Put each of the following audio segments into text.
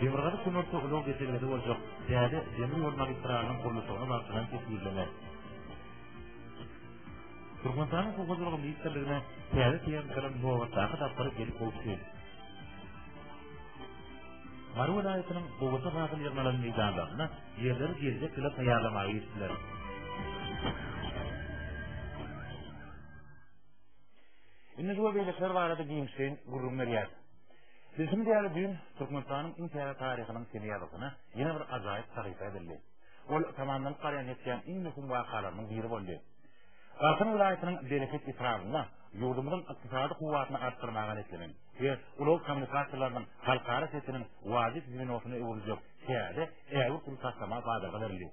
Demirgazyk kömürçi ulag geçelgesi boljak täze demir ýol magistralynyň gurluşygyny wagtlaýyn kesgitlemek. Türkmenistanyň Suw hojalygy ministrligine täze tehnikalar nobatdaky tapgyry gelip gowuşdy. Mary welaýatynyň Gowşa badyny ýygnalan meýdanlarynda Ýerleri geljek ýyla taýýarlamaga girişdiler. Indi bu beýlekiler barada giňişleýin gürrüň berýär. Bilşim diýýär düýn Türkmenistanyň iň täze taryhynyň seni ýazygyna ýene bir ajaýyp sahypa edildi. Ol tamamdan garýan etýän iň möhüm wakalarynyň biri boldy. Garsan welaýatynyň Bereket etrabynda ýurdumyzyň ykdysady kuwwatyny artdyrmaga niýetlenen we ulag kommunikasiýalarynyň halkara setiniň wajyp ýygynasyna öwrüljek täze ägirt uly taslama bazarga berildi.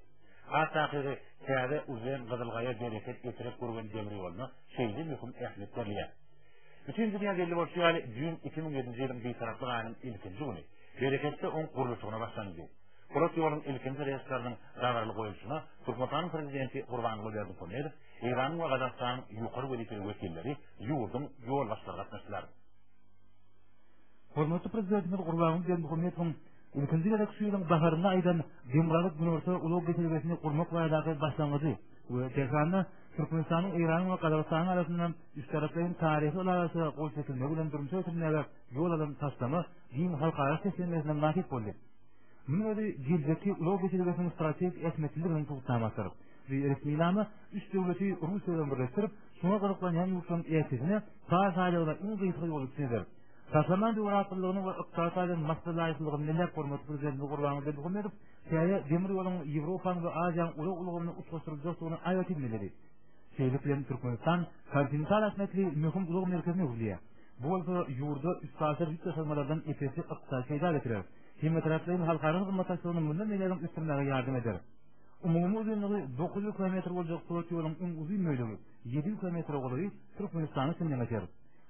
Has takygy, täze uzen Gyzylgaýa bereket getirip gurgan demir ýoluna şeýle möhüm ähmiýet berilýär. Bütin dünýä belli bolşy ýaly, düýn iki müň ýedinji ýylyň Bitaraplyk aýynyň ilkinji güni Bereketde oň gurluşygyna başlanyldy. Polat ýoluň ilkinji relsleriniň dabaraly goýulşyna Türkmenistanyň Prezidenti Gurbanguly Berdimuhamedow, Eýranyň we Gazagystanyň ýokary wezipeli wekilleri, ýurduň ýolbaşçylary gatnaşdylar. Hormatly Prezidentimiz Gurbanguly Berdimuhamedowyň Ilkinji gezek şu ýylyň baharynda aýdan Demirgazyk Günorta ulag geçelgesini gurmak baradaky başlangyjy we Tehranda Türkmenistanyň Eýranyň we Gazagystanyň arasynda üçtaraplaýyn taryhy ylalaşyga gol çekilmegi bilen durmuşa geçirilmäge ýol alan taslama giň halkara seslenmesine mynasyp boldy. Munuň özi geljekki ulag geçelgesiniň strategik ähmiýetliliginiň subutnamasydyr. Bu resminama üç döwleti Russiýa bilen birleşdirip, şuňa gyzyklanýan ýurtlaryň ählisine par saýlawyna iň gysga ýoly çyzar. Gahryman Döwrabdullynyň we Ykbal Atadan Mahsa laýyklygyn Millet Hormaty Prezidenti Gurbanguly Berdimuhamedow täze demir ýoluň Ýewropanyň we Aziýanyň ulag ulgamyny utgaşdyryljakdygyny aýratyn belledi. Şeýlelik bilen Türkmenistan kontinental ähmiýetli möhüm ulag merkezine öwrülýär. Bu bolsa ýurda üstaşyr ýük daşalmalardan ep-esli ykdysady peýda getirer. Hemmetaraplaýyn halkara hyzmatdaşlygyny mundan beýlägem ösdürmäge ýardam eder. Umumy uzynlygy dokuz ýüz kilometr boljak pulot ýoluň iň uzyn bölegi, ýedi ýüz kilometre golaýy Türkmenistana siňňe geçer.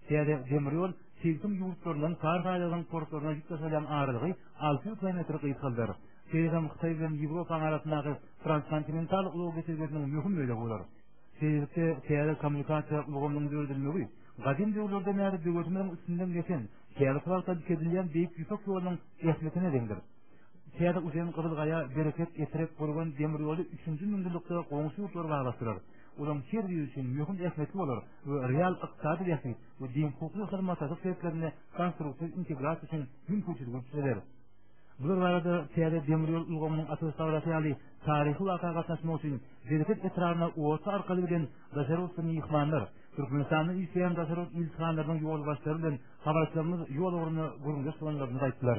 Täze demir ýol sebitiň ýurtlaryndan kar haýlagynyň portlaryna ýük daşalýan aralygy alty ýüz kilometre gysgaldar. Şeýle-de Hytaý bilen Ýewropanyň arasyndaky transkontinental ulag geçelgesiniň möhüm bölegi bolar. Sebitde täze kommunikasiýa ulgamynyň döredilmegi gadym döwürlerden bäri döwletimiziň üstünden geçen, häzirki wagtda dikeldilen Beýik Ýüpek ýolunyň ähmiýetine deňdir. Täze uzyn Gyzylgaýa, Bereket, Etrek, Gürgen demir ýoly üçünji müňýyllykda goňşy ýurtlary baglashdyrar. olaryň her biri üçin möhüm ähmiýetli bolar we real ykdysady bähbit we deňhukukly hyzmatdaşlyk şertlerinde konstruktiw integrasiýa üçin mümkinçiligi çözer. Bular barada täze demir ýol ulgamynyň açylyş dabarasy ýaly taryhy waka gatnaşmak üçin Bereket etrabyna oto arkaly gelen daşary ýurtly myhmanlar, Türkmenistanda işleýän daşary ýurt ilçihanasynyň ýolbaşçylary bilen habarçylarymyz ýol ugrunda gürrüňdeş bolanlarynda aýtdylar.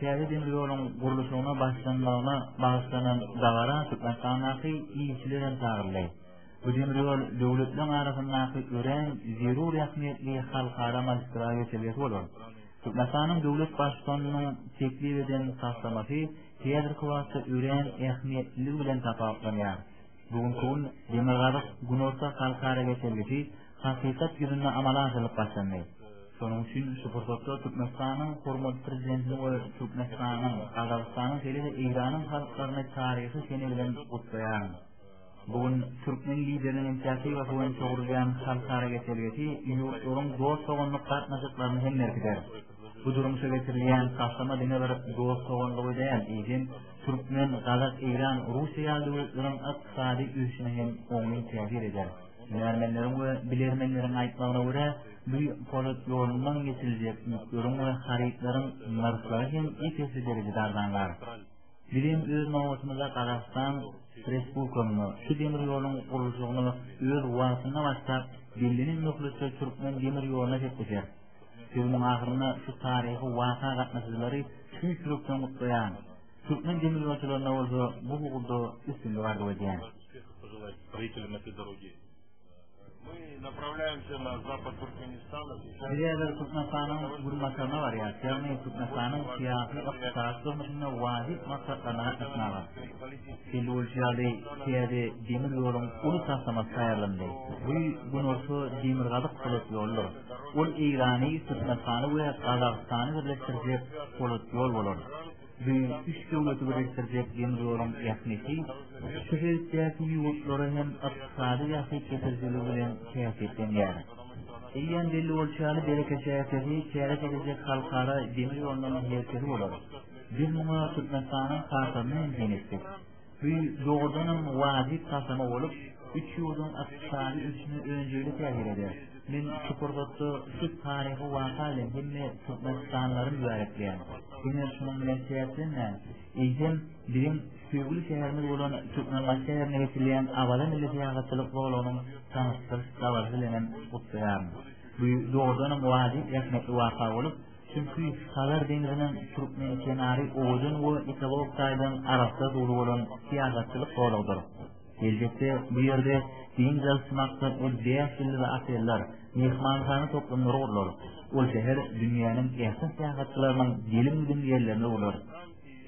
Täze demir ýoluň gurluşygyna başlanmagyna bagyşlanan dabara Türkmenistandaky ilçiler hem çagyryldy. Bu demir ýol döwletleriň arasyndaky örän zerur ähmiýetli halkara magistral geçelgesi bolar. Türkmenistanyň döwlet Baştutanynyň teklip eden taslamasy häzirki wagtda örän ähmiýetliligi bilen tapawutlanýar. Bu günki gün Demirgazyk-Günorta halkara geçelgesi hakykat ýüzünde amala aşyrylyp başlandy. Şonuň üçin şu pursatda Türkmenistanyň hormatly Prezidentini we Türkmenistanyň, Gazagystanyň şeýle-de Eýranyň halklaryny taryhy sene bilen gutlaýaryn. Bu gün türkmen Lideriniň inisiatiwasy boýunça gurulýan halkara geçelgesi ýurtlaryň dost-doganlyk gatnaşyklaryny hem berkider. Bu durmuşa geçirilýän taslama diňe bir dost-doganlygy däl, eýsem, türkmen, gazak, eýran, russiýa ýaly döwletleriň ykdysady ösüşine hem oňyn täsir eder. Hünärmenleriň we bilermenleriň aýtmagyna görä, bu polat ýolundan geçiriljek ýükleriň we harytlaryň nyrhlary hem ep-esli derejede arzanlar. Biz hem öz nobatymyzda Gazagystan Respublikamyza şu demir ýoluň gurluşygyny öz wagtynda başlap, bellenen möhletde türkmen demir ýoluna sepleşeris. Sözümiň ahyrynda şu taryhy waka gatnaşyjylary tüýs ýürekden gutlaýan. Türkmen demirýolçylaryna bolsa bu ugurda üstünlik arzuw edýän. Biz häzir Türkmenistanyň günbataryna barýarys, ýagny Türkmenistanyň syýasy-ykdysady durmuşynda wajyp maksatlaryna gatnaşmaga. Belli bolşy ýaly, täze demir ýoluň uly taslamasy taýýarlandy. Bu günorta demirgazyk polat ýoludyr. Ol Eýrany, Türkmenistany we Gazagystany birleşdirjek polat ýol bolar. Beýik üç döwleti birikdirjek demir ýoluň ähmiýeti şu sebitdäki ýurtlara hem ykdysady bähbit getirijiligi bilen häsiýetlenýär. Eýýäm belli bolşy ýaly, Bereke şäheri täze geljek halkara demir ýolunyň merkezi bolar. Biz muňa Türkmenistanyň kartasyny hem seretdik. Bu dogrudanam wajyp taslama bolup, üç ýurduň ykdysady ösüşine önjeýli täsir eder. Men şu pursatda şu taryhy waka bilen hemme türkmenistanlylaryň bärekleýän. Diňe şunuň bilen çäklenmän, eýsem, biziň söýgüli şäherimiz bolan Türkmenbaşy şäherine geçirilýän Awaza milli syýahatçylyk zolagynyň tanyşdyryş dabarasy bilen hem gutlaýaryn. Bu dogrudanam wajyp, ähmiýetli waka bolup, Çünki Hazar deňziniň türkmen kenary owadan we ekologik taýdan arassa suwly bolan syýahatçylyk zolagydyr. Geljekde bu ýerde dynç alyş maksatly bäş ýyllyk oteller, myhmanhana toplumlary gurlar. Ol şäher dünýäniň ähli syýahatçylarynyň gelim-gidim ýerlerine öwrüler.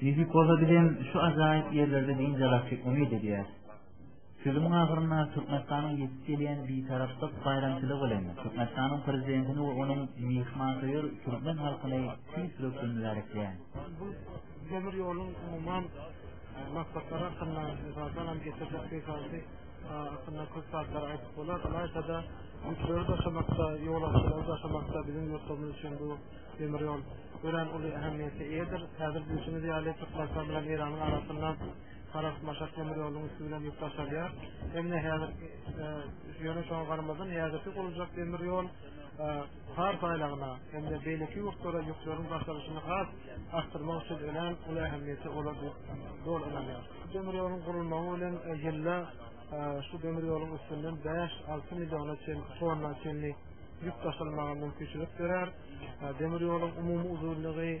Nesip bolsa bizem şu ajaýyp ýerlerde dynç alarsyk umyt edýäs. Sözümiň ahyrynda Türkmenistanyň ýetip gelýän Bitaraplyk baýramçylygy bilen Türkmenistanyň Prezidentini we onuň myhmansöýer türkmen halkyny tüýs ýürekden mübärekleýän. Bu demir ýoluň umuman maksatlary hakynda, mysal salam, getirjek peýdaly hakynda köp zatlary aýdyp bolar. Ylaýta-da, ýükleri daşamakda, ýolagçylary daşamakda biziň ýurtlarymyz üçin bu demir ýol örän uly ähmiýete eýedir. Häzir bilşiňiz ýaly, Türkmenistan bilen Eýranyň arasynda Halas maşak demir ýolunyň üsti bilen ýük daşalýar. Emine häzir ýöne şoňa garamazdan häzirki gurulacak demir ýol har saýlagyna hem-de beýleki ýurtlara ýükleriň daşalyşyny has artdyrmak üçin önem uly ähmiýeti bolar diýip doly ynanýar. Demir ýoluň gurulmagy bilen ýylda şu demir ýoluň üstünden 5-6 milliona çen tonna çenli ýük daşalmaga mümkinçilik berer. Demir ýoluň umumy uzynlygy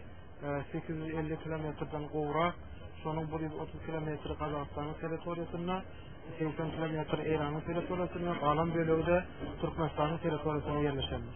sekiz ýüz elli kilometrden gowrak, şonuň bir ýüz otuz kilometri Gazagystanyň territoriýasynda, segsen kilometri Eýranyň territoriýasynda, galan bölegi-de Türkmenistanyň territoriýasynda ýerleşendir.